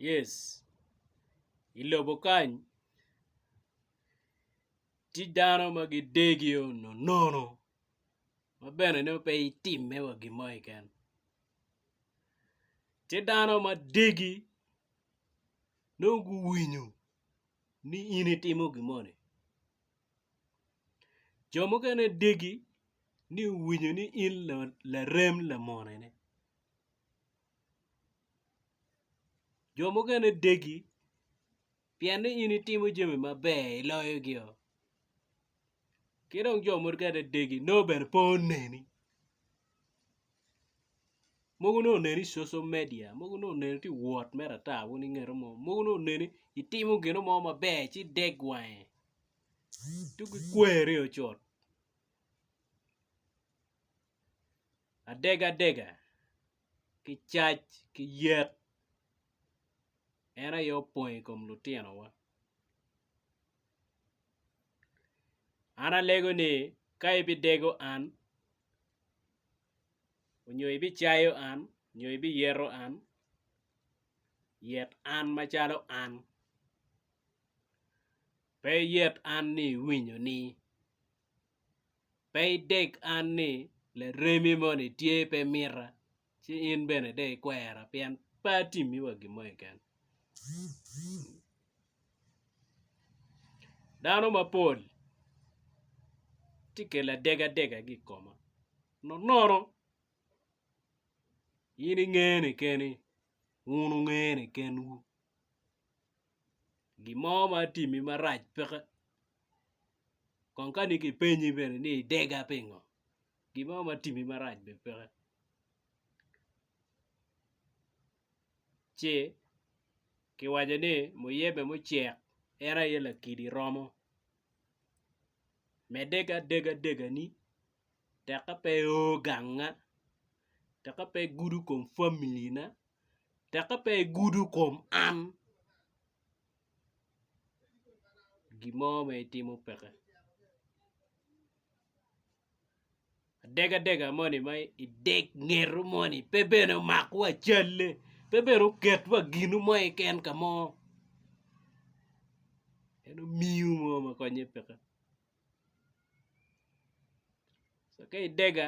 Yes, i lobo kany tye dano ma gidegio nonono ma bene nongo pe itimme wa gin mo keken tye dano ma degi nongo guwinyo ni in itimo gin moni jo mukene degi ni guwinyo ni in larem lamonene. Jo mukene degi pien ni in itimo jami maber iloyogi oo ki dong jo mukene degi nongo bene pe oneni mogo nongo oneni i social media mogo nongo oneni tye ka wot mere ata wun ingeto mo mogo nongo oneni itimo gino mo maber ci deg wange ci gikweri oo cut. Adegadega, ki cac ki yet en aye opong i kom lutinowa. An alego ni ka ibidego an onyo ibicayo an onyo ibiyeto an, yet an macalo an pe iyet an ni iwinyo ni. Pe ideg an ni laremi moni tye pe mita, ci in bene dong ikwera pien pe atimmiwa gin mo keken. Dano mapol tye kelo adegadegagi i koma nonono in ingene keni, wun wungene kenwu. gin mo ma atimi marac peke kong kani kipenyi bene ni idega pingo gin mo ma atimi marac bene peke ci kiwaco ni muyebe mucek en aye lakili romo medde ki adega degani tek ka pe i o ganga tek ka pe igudo kom famili na. tekka pe igudo kom an gin mo ma itimo peke adega dega moni ma ideg ngeto moni pe bene omak wa calle pe bene oket wa ginu mo keken ka mo en omiyo mo ma konye peke so ka idega